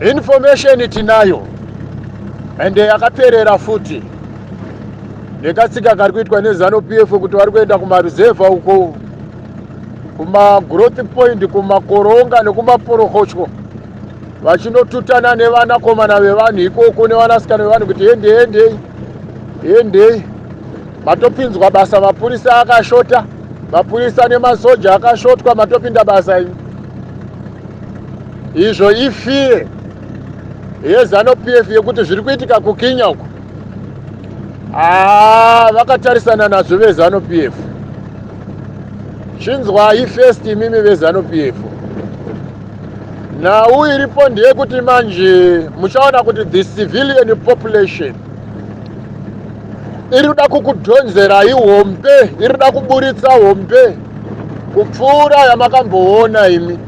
information tinayo and yakaperera futi nekatsika kari kuitwa nezano p f kuti vari kuenda kumaruzevha uko kumagrowth point kumakoronga nekumaporokotyo vachinotutana nevanakomana vevanhu ikoko nevanasikana vevanhu kuti hendei hendei hendei matopinzwa basa mapurisa akashota mapurisa nemasoja akashotwa matopinda basa imi izvo ifire yezano p f yekuti zviri kuitika kukinya uko aa ah, vakatarisana nazvo vezano p f chinzwai first imimi vezano p f nhau iripo ndeyekuti manje muchaona kuti the civilian population iri kuda kukudhonzerai hombe iri kuda kuburitsa hombe kupfuura yamakamboona imi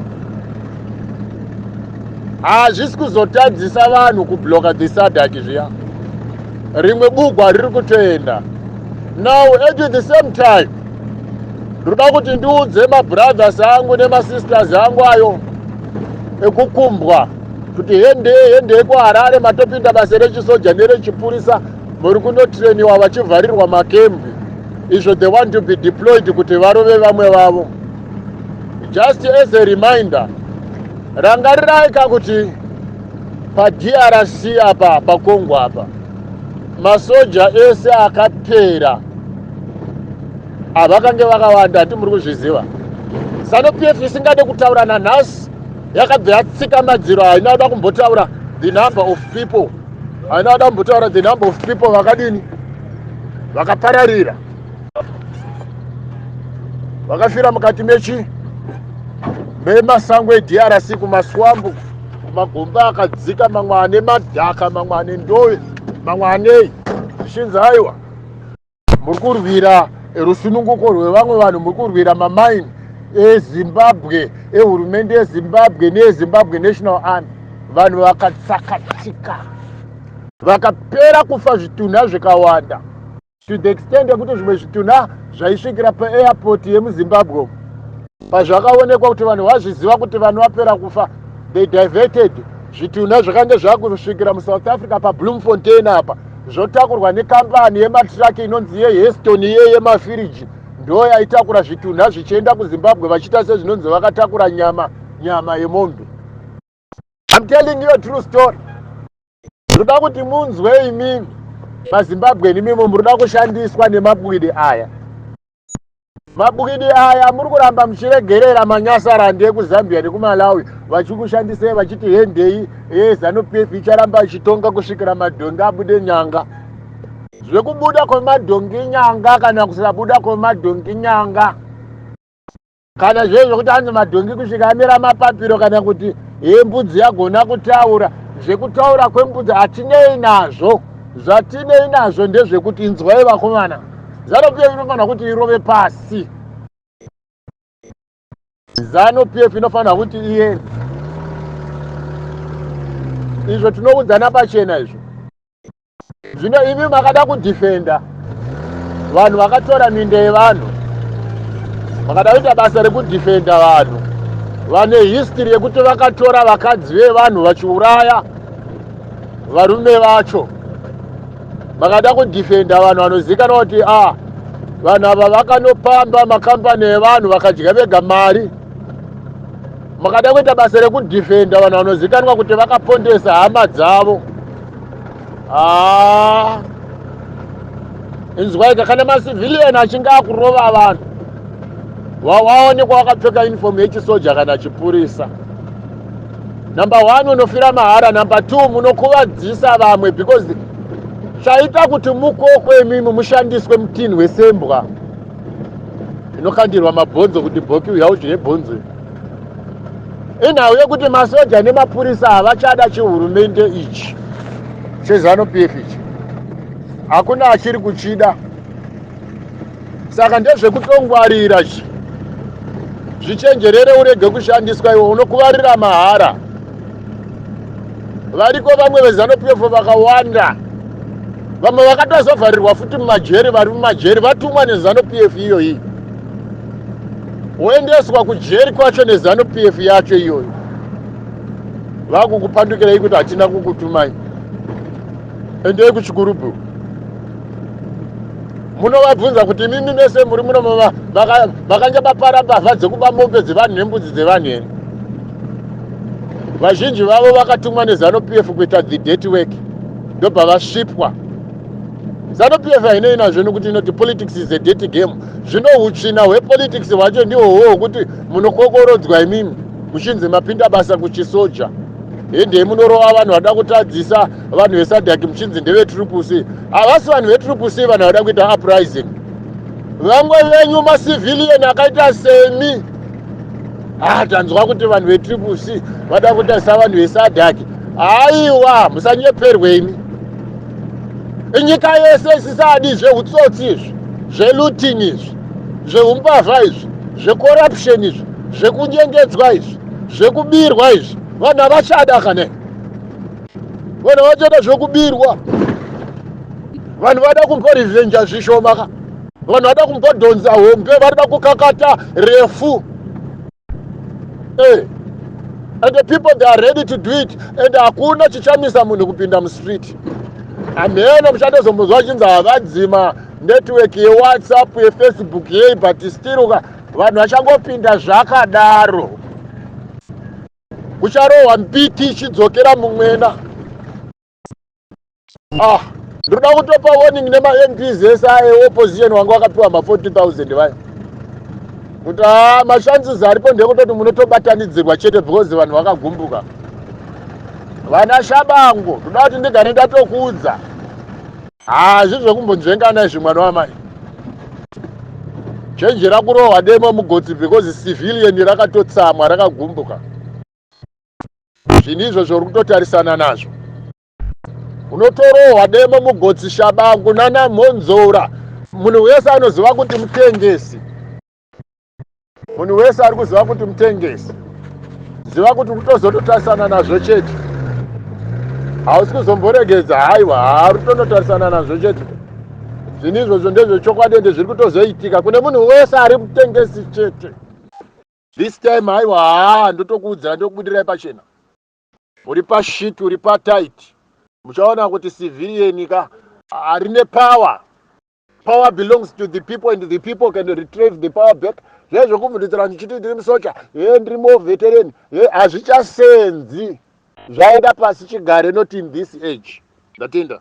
hazvisi kuzotadzisa vanhu kubloka dhisadak zviya rimwe bugwa riri kutoenda now at the same time ndoda kuti ndiudze mabrothers angu nemasisters angu ayo ekukumbwa kuti hendei hendei kuharare matopinda basa rechisoja nerechipurisa muri kunotrainiwa vachivharirwa makembi izvo they want to be deployed kuti varove vamwe vavo just as a reminder rangarirai ka kuti padrc apa pakongo apa masoja ese akapera avakange vakawanda hati muri kuzviziva zanu p f isingade kutaura nanhasi yakabva yatsika madziro haina kuda kumbotaura the number of people haina ada kumbotaura the number of people vakadini vakapararira vakafira mukati mechi memasango edrc kumaswambu magomba akadzika mamwe ane madhaka mamwe ane ndove mamwe anei zvichinzi aiwa muri kurwira rusununguko rwevamwe vanhu muri kurwira mamaini ezimbabwe ehurumende yezimbabwe neyezimbabwe national army vanhu vakatsakatika vakapera kufa zvitunha zvikawanda to the extent yekuti zvimwe zvitunha zvaisvikira paairport yemuzimbabwe umu Pazvakaonekwa kuti vanhu vazviziva kuti vanhu vapera kufa, they diverted zvitunha zvakange zvakusvikira muSouth Africa paBloemfontein apa zvotakurwa nekambani yematiraki inonzi yeHeston iye yemafiriji ndo yaitakura zvitunha zvichienda kuZimbabwe vachiita sezvinonzi vakatakura nyama nyama yemombe. I'm telling you a true story ndoda kuti munzwe imimi mazimbabweni imimo muri kuda kushandiswa nemabwidi aya mabwidi aya muri kuramba muchiregerera manyasarandi ekuzambia nekumalawi vachikushandisei vachiti hendei ezanupf eh, icharamba ichitonga kusvikira madhongi abude nyanga zvekubuda kwemadhongi nyanga kana kusabuda kwemadhongi nyanga kana zviye zvekuti anzi madhongi kusvika amira mapapiro kana kuti hee mbudzi yagona kutaura zvekutaura kwembudzi hatinei nazvo zvatinei nazvo ndezvekuti inzwai vakomana zano pf inofanira kuti irove pasi zano pf inofanira kuti iye izvo tinoudzana pachena izvo zvino imi makada kudefenda vanhu vakatora minda yevanhu makada kuita basa rekudefenda vanhu vane history yekuti vakatora vakadzi vevanhu vachiuraya varume vacho makada kudefenda vanhu vanozivikanwa kuti a ah, vanhu ava vakanopamba makambani evanhu vakadya vega mari makada kuita basa rekudefenda vanhu vanozivikanwa kuti vakapondesa hama dzavo Ah. Inzwaika kana macivilian achinge akurova vanhu wawaonekwa wakapfeka uniform yechisoja kana chipurisa number one unofira mahara number two munokuvadzisa vamwe because chaita kuti mukokwe imimi mushandiswe mutinhi wesembwa inokandirwa mabhonzo kuti bhoki uya udye bhonzo inhau yekuti masoja nemapurisa havachada chihurumende ichi chezanu p f ichi hakuna achiri kuchida saka ndezvekutongwarira chi zvichenjerere urege kushandiswa iwe unokuvarira mahara variko vamwe vezanu p f vakawanda vamwe vakatozovharirwa futi mumajeri vari mumajeri vatumwa nezanu p f iyoyi woendeswa kujeri kwacho nezanu p f yacho iyoyo vakukupandukirei kuti hatina kukutumai endei kuchikurubhu munovabvunza kuti imimi mese muri muno makanga mapara mbavha dzekuba mombe dzevanhu nembudzi dzevanhu here vazhinji vavo vakatumwa nezanu p f kuita the dirty work ndobva vasvipwa zanu p f hainei nazvo nokuti inoti politics is a dirty game zvino hutsvina hwepolitics hwacho ndiho huwo hwekuti munokokorodzwa imimi muchinzi mapinda basa kuchisoja hendei munorova vanhu vada kutadzisa vanhu vesadhaki muchinzi ndevetrupusi havasi vanhu vetrupusi vanhu vada kuita uprising vamwe venyu macivilian akaita semi haa ah, tanzwa kuti vanhu vetrupusi vada kutadzisa vanhu vesadhaki haiwa musanyeperwe imi inyika yese isisadi zveutsotsi izvi zveluting izvi zveumbavha izvi zvecorruption izvi zvekunyengedzwa izvi zvekubirwa izvi vanhu havachada kane vanhu havachada zvekubirwa vanhu vada kumborivenja zvishoma ka vanhu vada kumbodhonza hombe varida kukakata refu hey. Eh, and the people they are ready to do it and hakuna chichamisa munhu kupinda mustreet hameno muchatozomuzwa achinzi havadzima network yewhatsapp yefacebook yei but still ka vanhu vachangopinda zvakadaro kucharohwa mbiti ichidzokera mumwena ah ndinoda kutopa warning nemamps ese aye opposition wanga wakapiwa ma 40000 vaya kuti haa ah, mashances aripo ndekutoti munotobatanidzirwa chete because vanhu vakagumbuka vana shabango ndoda kuti ndigane ndatokuudza hazvi ah, zvekumbonzvengana izvi mwana wamai chenjera kurohwa demo mugotsi because civilian rakatotsamwa rakagumbuka zvinhu izvo zvauri kutotarisana nazvo unotorohwa demo mugotsi shabangu nana mhonzora munhu wese anoziva kuti mutengesi munhu wese ari kuziva kuti mutengesi ziva kuti kutozototarisana nazvo chete hausi kuzomboregedza haiwa haari kutonotarisana nazvo chete zvinhu izvozvo ndezvechokwadi ende zviri kutozoitika kune munhu wese ari mutengesi chete This time haiwa haa ndotokuudzira ndokubudirai pachena. Uri pashit uri patight. Muchaona kuti civilian ka harine power. Power belongs to the people and the people can retrieve the power back. Zviya zvekuvhundutsira ndichiti ndiri musocha, he ndiri more veteran, he hazvichasenzi. Zvaenda pasi chigare not in this age. Ndatenda.